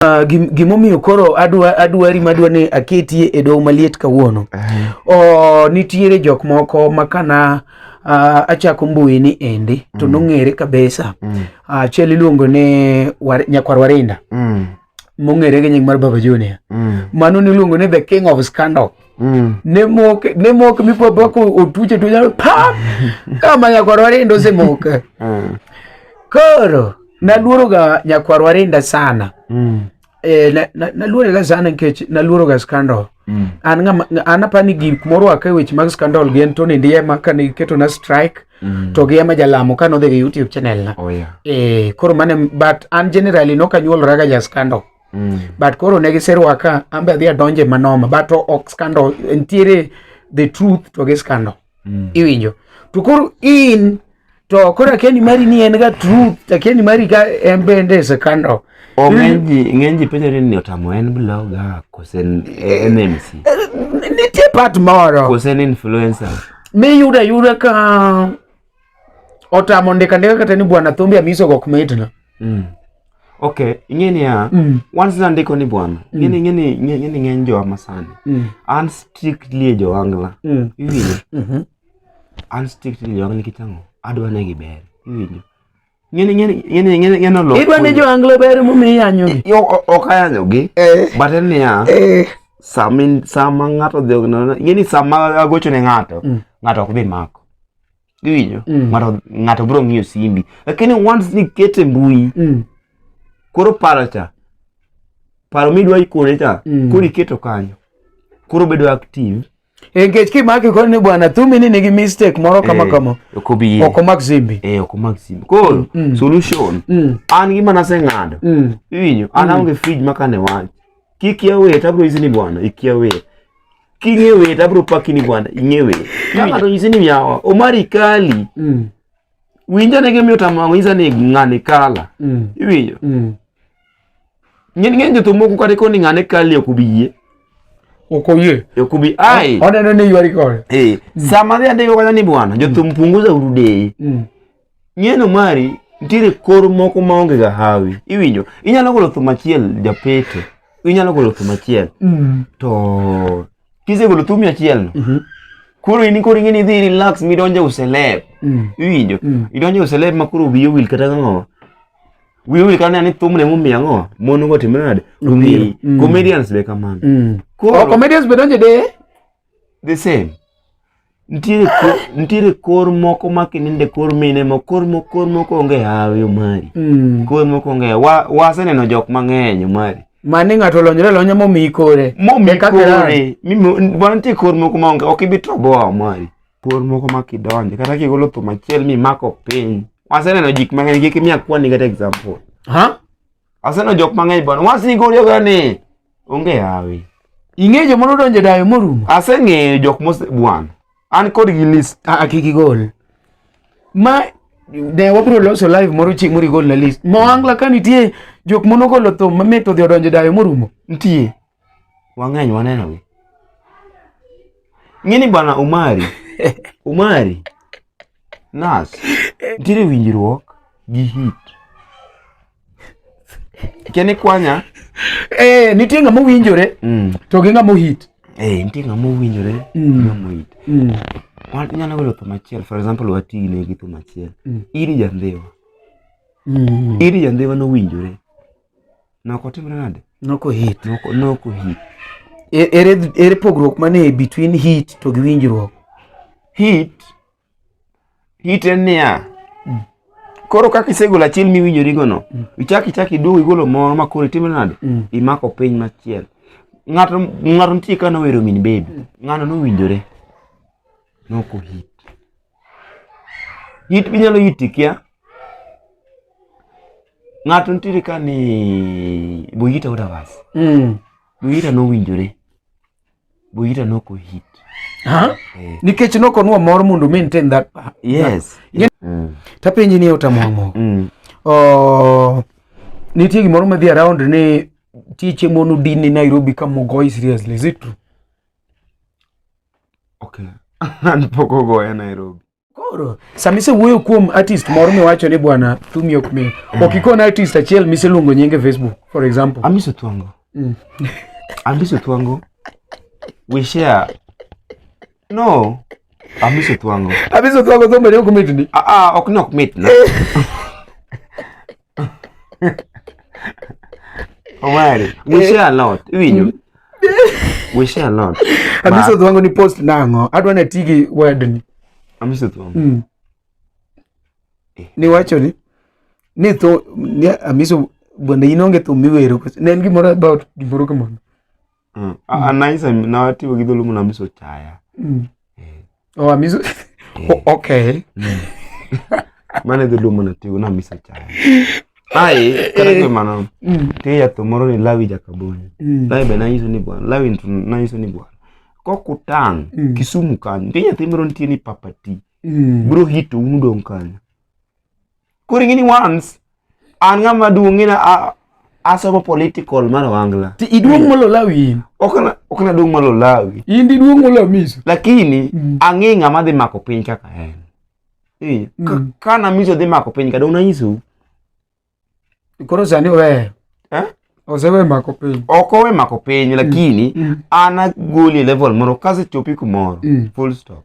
Uh, gimomiyo koro adwa adwari madwa ni aketie e doho maliet kawuono uh, oh, nitiere jok moko ma kana uh, achako mbui ni endi to mm. nong'ere kabisa mm. achiel uh, iluongo ni war, nyakwar warinda mm. mong'ere gi nying mar baba junior mm. mano niluongo ni the king of scandal Mm. ne mok ne mok mi po bako otuche tuja pa kama ya korore ndo se mok mm. koro naluoroga nyakwarwa rinda sana mm. eh, na, na, naluorega sana nikech naluoroga scandal mm. an ngama an apa ni gik morwaka e weche mag scandal gi en Tony Ndiema kane giketo na strike mm. to gi ema jalamo kane odhi gi YouTube channel na oh, yeah. eh, koro mane but an generally noka nyuolora ga ja scandal mm. but koro ne giserwaka an be adhi adonje manoma but ok scandal ntiere the truth to gi scandal mm. iwinjo to koro in to koro akendi mari ni en ga truth akendi mari ga en bende is a kind of ng'eny ji penjore ni otamo en blogger kose en mc nitie part moro kose en influencer miyudo ayuda ka otamo ndika ndika kata ni bwana thumbi amiso gok mitna mm. okay ing'eni ya mm. once na ndiko ni bwana mm. ng'eni ng'eni ng'eni ng'eny jo amasani mm. an strictly jo angla mm. iwinjo mm -hmm. an strictly jo angla kitango adwa ne giber iwinjo ngene ngene ngene ngene ngene lo idwa ni jo anglo ber mu mi yanyo gi yo ok ayanyo gi eh. but en ya eh. sama sama ngato dhi ngene ngene sama agocho ne ngato mm. ngato ok bi mako iwinjo mm. ngato ngato bro ngiyo simbi lakini once ni kete mbui mm. koro paro cha paro midwa ikone cha koro iketo kanyo koro bedo active Eh, nikech kimaki koni ni bwana thumi ni nigi mistake moro kama eh, kama okobiye okomak simbi eh okomak simbi koro mm, mm. solution mm. an gima naseng'ado mm. iwinyo an mm. aonge fridge ma kane wach kik ya wet abro isi ni bwana ik ya wet king'e wet abro paki ni bwana ing'e wet ka ng'ato nyisi ni yawa omari kali mm. winja ne gimiyo tamang'o nyisa ni ng'ani kala mm. iwinyo mm. Ng'eny ng'eny jothum moko kata koni ng'ane kali ok ubi yie. Ok oyie. Ok ubi ai. Oneno ni ywari kode. Eh, sama adhi andiko kata ni bwana, jothum punguza uru deye. Mm. Ng'eno mari nitiere kor moko maonge ga hawi. Iwinjo? Inyalo golo thum achiel japete. Inyalo golo thum achiel. Mm. To kisegolo thum achiel no, Mhm. koro in koro ing'eni idhi relax midonje uselep. Mm. Iwinjo? Mm. Idonje uselep ma koro wiyo wil kata ng'awa. wiu ikano ni ani thumne momiyo ang'o mon go timre nade ong'eyi mm. comedians be kamano mm. oh, comedians be donje de the same ntiere kor, ntiere kor moko ma kininde kor mine mo kor mo kor moko onge hawi omari mm. kor moko onge wa waseneno jok mang'eny omari mane ng'ato olonyre lonya momiyi kore momiyi kore mimi wan ntie kor moko ma onge ok ibi toboa omari Por moko ma kidonje kata kigolo thum achiel mimako piny. Waseneno jik mang'eny kik imiya kwani kata example. Ha? Waseneno jok mang'eny bwana. Wasigori agoya ni onge yawi. Ing'eyo joma nodonjo e dayo morumo? Aseng'eyo jok mose bwana. An kod gi list. Ah, ah kik igol. Ma ne wabiro loso live moro chieng' moro igol na list. Mo angla ka nitie jok monogolo thum mamit odhi odonjo e dayo morumo. Nitie. wang'eny wanenogi. Ng'eni bwana Umari, Umari nas nitiere winjruok gi hit kene kwanya eh, nitie ng'ama owinjore mm. to gi ng'ama ohit eh, nitie ng'ama owinjore mm. ng'ama ohit mm. nyalo golo thum achiel for example watine gi thum achiel mm. iri jandhiwa mm. iri jandhiwa nowinjore Noko timre nade? Noko hit. Noko, noko hit. E, ere, ere pogruok mane between hit to gi winjruok? Hit, hit en niya, mm. koro kaka isegolo achiel miwinjorigono, mm. ichak ichak iduogo igolo moro ma koro itimre nade? Mm. Imako piny machielo. Ng'ato ng'ato nitie ka nowero min bebi, mm. ng'ano nowinjore. Noko hit. It inyalo iti kia. Ng'ato nitiere ka ni Boyita Odawas. Mm. Boyita nowinjore. Boyita noko hit. Ha? Eh. Nikech noko nwa mor mondo maintain that. Yes. That. yes. Mm. Tapenji ni otamwang'o. Mm. Oh, nitie gimoro madhi around ni tieche monu din ni Nairobi ka mogoi seriously. Is it true? Okay. An pok ogoya Nairobi. Koro sama isewuoyo kuom artist moro miwacho ni bwana thumi ok mi mm. ok ikon artist achiel miseluongo nyinge Facebook for example. Amiso Thwango. Mm. Amiso Thwango. We share. No. Amiso Thwango. Amiso Thwango thumbe ne ok mitni. Ah ah ok nok mitna. Omari, we share a lot. Iwinjo? Mm. We share a lot. Amiso dhwango ni post nang'o? Adwa na tigi word ni. Amiso dhwango. Mm. Eh. Ni wacho ni ni tho ni amiso bende in onge thum miwero ne en gimoro about gimoro kamano Mm. Ah, mm. Nice, na wati wa gidhulumu na miso chaya. Mm. Eh. Oh, miso. Eh. Oh, okay. Mm. Mane dhulumu na tigo na miso chaya. Ai, kare kwe mano. Mm. Te ya tomoro ni lawi jakaboni. Mm. Lawi be na iso ni bwana. Lawi ntu na iso ni bwana. Kwa kutang, mm. kisumu kanyo. Te ya temero nti ni papati. Mm. Bro hito unudong kanyo. Koro ing'eni once an ng'ama duong' ng'ina a- asomo political mar Wangla. Ti iduong' molo lawi in. Ok na- ok naduong' malo lawi. In diduong' molo miso. Lakini Mm. ang'e ng'ama dhi mako piny kaka en. Eh, ka- Mm. Ka namiso dhi mako piny ka dong' nanyisou. Koro sani oweyo. Eh? Osewe mako piny. Ok owe mako piny lakini Mm. an agoli e level moro kasechopi kumoro. Mm. Full stop.